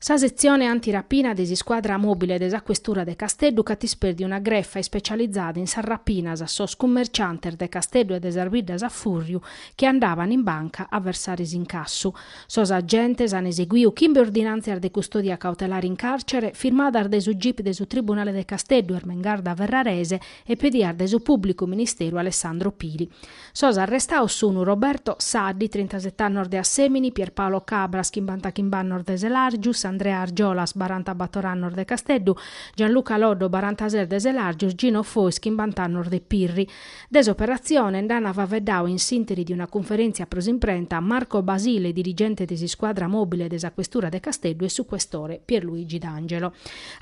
Sa setzione antirapina de s'iscuadra mòbile de sa questura de Casteddu ch'at isperdiu una grefa ispecializada in sas rapinas a sos cummerciantes de Casteddu e de sas biddas a fùrriu chi andaban in banca a versare s'incassu. Sos agentes an eseguiu chimbe ordinàntzias de custodia cautelare in càrcere firmadas dae su gip de su Tribunale de Casteddu Ermengarda Ferrarese e pedias dae su pùblicu ministeru Alessandro Pili. Sos arrestaos sunu Roberto Saddi, trintaseti annos de Assemini, Pierpaolo Cabras, chimbantachimbe annos de Selargius, Andrea Argiolas, barantabator annos de Casteddu, Gianluca Loddo, barantases de Selargius, Gino Fois, chimbant'annos de Pirri. De s'operatzione nd'ana faveddau in s'interi de una cunferèntzia pro s'imprenta Marco Basile, dirigente de s'iscuadra mòbile de sa Questura de Casteddu e su Questore Pierluigi D'Angelo.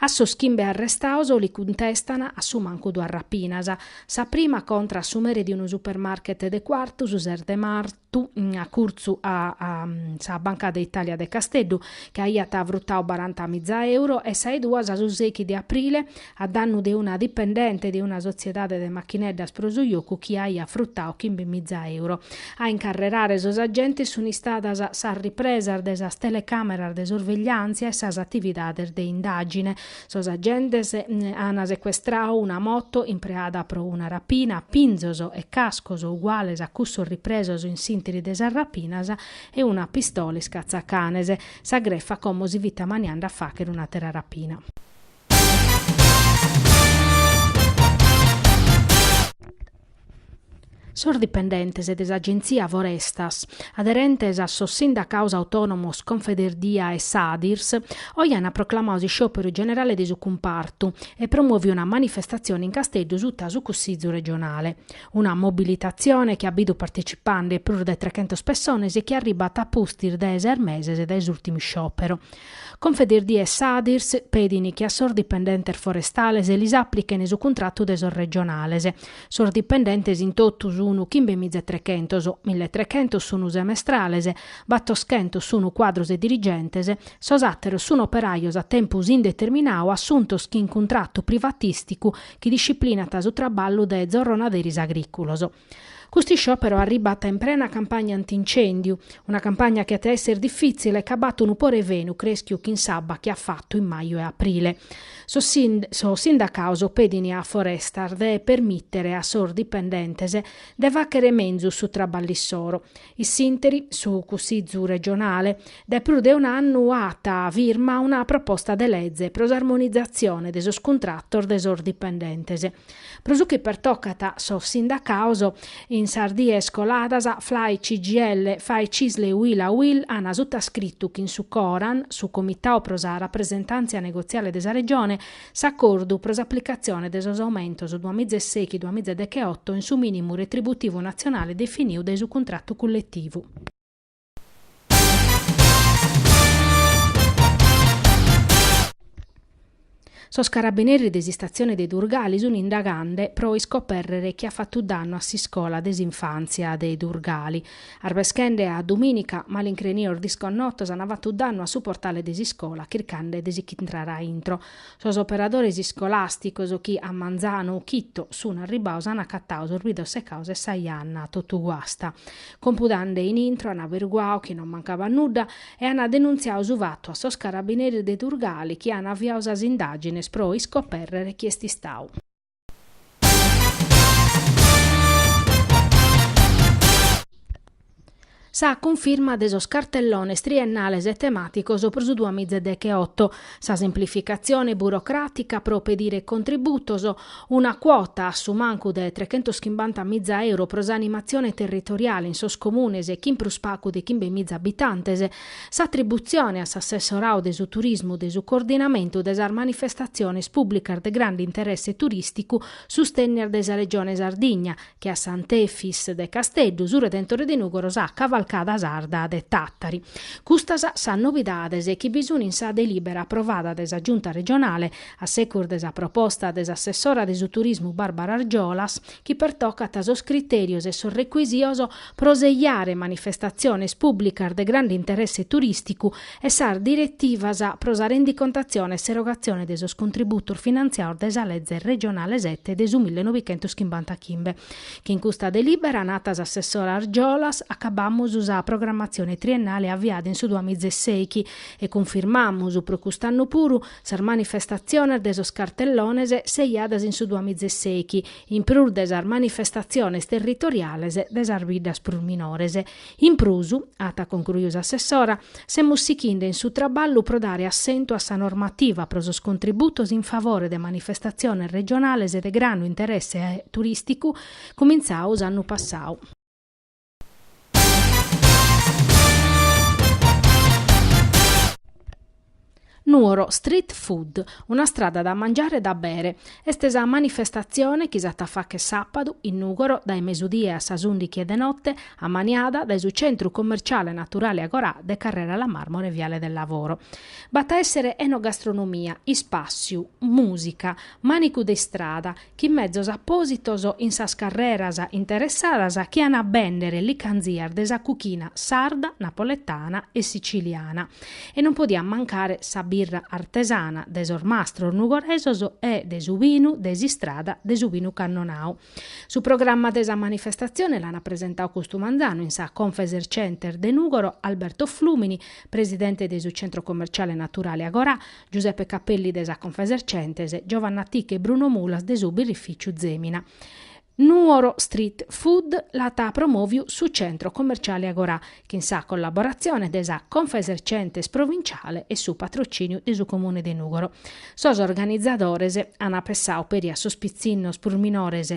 A sos chimbe arrestaos li cuntestan a su mancu duas rapinas. Sa prima contra a su mere de unu supermarket de Cuartu su ses de martu, acurtzu a sa Banca de Italia de Casteddu, chi aiat frutau baranta miza euro, e sa 'e duas su sechi de aprile, a dannu de una dipendente de una sotziedade de machineddas pro su jocu chi aiat frutau chimbe miza euro. A incarrerare sos agentes sunt istadas sas ripresas de sas telecàmeras de sorvegliàntzia e sas atividades de indàgine. Sos agentes an secuestrau una moto impreada pro una rapina, pinzos e cascos uguales a cussos ripresos in s'interi de sas rapinas e una pistola iscatzacanes. Sa grefa como si fit amaniande a fàchere un'àtera rapina. Sos dipendentes de s'Agentzia Forestas, aderentes a sos sindacaos autònomos Confederdia e Sadirs, oe ant proclamau s'isciòperu generale de su cumpartu e promòviu una manifestatzione in Casteddu suta su Cussizu regionale. Una mobilitatzione chi at bidu partecipande prus de trechentos pessones e chi arribat a pustis dae ses meses dae s'ùrtimu isciòperu. Confederdia e Sadirs pedin chi a sos dipendentes forestales lis aplichen su cuntratu de sos regionales. Sos dipendentes in totu sunu chimbe miza e trechentos, mille e trechentos sunu semestrales, battoschentos sunu cuadros e dirigentes, sos àteros sun operajos a tempus indeterminau assuntos chin cuntratu privatisticu chi disciplinat su traballu de zorronaderis agrìculos. Custu isciòperu arribat in prena campagna antincèndiu, una campagna chi at a èssere difìtzile ca b'at unu pore 'e fenu crèschiu chin s'abba chi at fatu in maju e aprile. Sos sindacaos pedint a Forestas de permìtere a sos dipendentes de fàchere menzus su traballu issoro In s'interi, su Cussizu regionale, dae prus de un'annu at firma una proposta de lege pro s'armonizatzione de sos cuntratos de sos dipendentes. Pro su chi pertocat sos sindacados, in sas dies coladas Flai CGIL, Fai Cisl e Uila Uil an sutascritu chin su Coran, su Comitau pro sa Rapresentàntzia Negotziale de sa Regione, S'acordu pro s'aplicatzione de sos aumentos duamiza e sèichi duamiza e deche oto in su minimu retributivu natzionale definiu dae su cuntratu culletivu. Sos carabineris de s'istatzione de Durgali sun indagande pro iscoperrere chie at fatu dannu a s'iscola de s'infantzia de Durgali. Arbeschende a dumìnica, malincrenios disconnotos ant fatu dannu a su portale de s'iscola chircande de si ch'intrare a intro. Sos operadores iscolàsticos chi a manzanu chito sunt arribbados ant acatadu sos bidros secados e sa janna totu guasta. Compudande in intro ant averguadu chi non mancabat nudda e ant denuntziadu su fatu a sos carabineris de Durgali chi ant aviadu sas indàgines pro iscopèrrere chie est istadu. Sa cunfirma de sos cartellones triennales e temàticos pro su duas mìgia e deghe oto, sa semplificatzione burocràtica pro pedire contributos, una cuota a su mancu de trechentoschimbanta mìgia euro pro s'animatzione territoriale in sos comunes chin prus pagu de chimbe mìgia abitantes, S'atributzione a s'assessoradu de su turismu de su coordinamentu de sas manifestatziones pùblicas de grande interesse turìsticu sustènnias dae sa Regione Sardigna, che a Sant'Efis de Casteddu, su Redentore de Nùgoro sa Cavalcada Sarda de Tàtari. Custas sas novidades chi bi sun in sa delìbera aprovada dae sa Giunta Regionale a segus de sa proposta de s'assessora de su turismu Barbara Argiolas, chi pertocat sos critèrios e sos recuisios pro seiare manifestatziones pùblicas de grande interesse turìsticu e sas diretivas pro sa rendicontatzione e s'erogatzione de sos contributos finantziados dae sa Lege regionale sete de su mille novichentos chimbanta chimbe. Chin custa delìbera, nat s'assessora Argiolas, acabamus sa programmatzione triennale aviada in su duamiza e sèichi, e cunfirmamus pro cust'annu puru, Sas manifestatziones de sos cartellones seiadas in su duamizesèichi, in prus de sas manifestatziones territoriales de sas biddas prus minores. In prus, at concruiu s'assessora, semus sighinde in su traballu pro dare assentu a sa normativa pro sos contributos in favore de manifestatziones regionales de grande interesse turìsticu cumintzadu s'annu passadu. Nuoro Street Food, una strada da mangiare e da bere, est sa manifestatzione chi s'at a fàghere sàpadu in Nùgoro dae mesudie a sas ùndighi 'e de note, ammaniada dae su Centru Commerciale Naturale Agorà de Carrera La Marmora Viale del Lavoro. B'at a èssere enogastronomia, ispàssiu, mùsica, mànicu de istrada, chin mezos apòsitos in sas carreras interessadas chi an a bèndere licanzias de sa cuchina sarda, napoletana e sitziliana. E non podiat mancare sa birra artesana de sos mastros nugoresos e de su binu de s'istrada de su Binu Cannonau. Su programma de sa manifestatzione l'an presentadu custu manzanu in sa Confesercentes de Nùgoro Alberto Flùmini, presidente de su centro commerciale naturale Agorà, Giuseppe Cappelli de sa Confesercentes, Giovanna Ticca e Bruno Mulas de su birrificiu Zemina. Nuoro Street Food l'at promòviu su centro commerciale Agorà, chin sa collaboratzione de sa Confesercentes provinciale e su patrocìniu de su Comune de Nùgoro. Sos organizadores an pessau peri a sos pitzinnos prus minores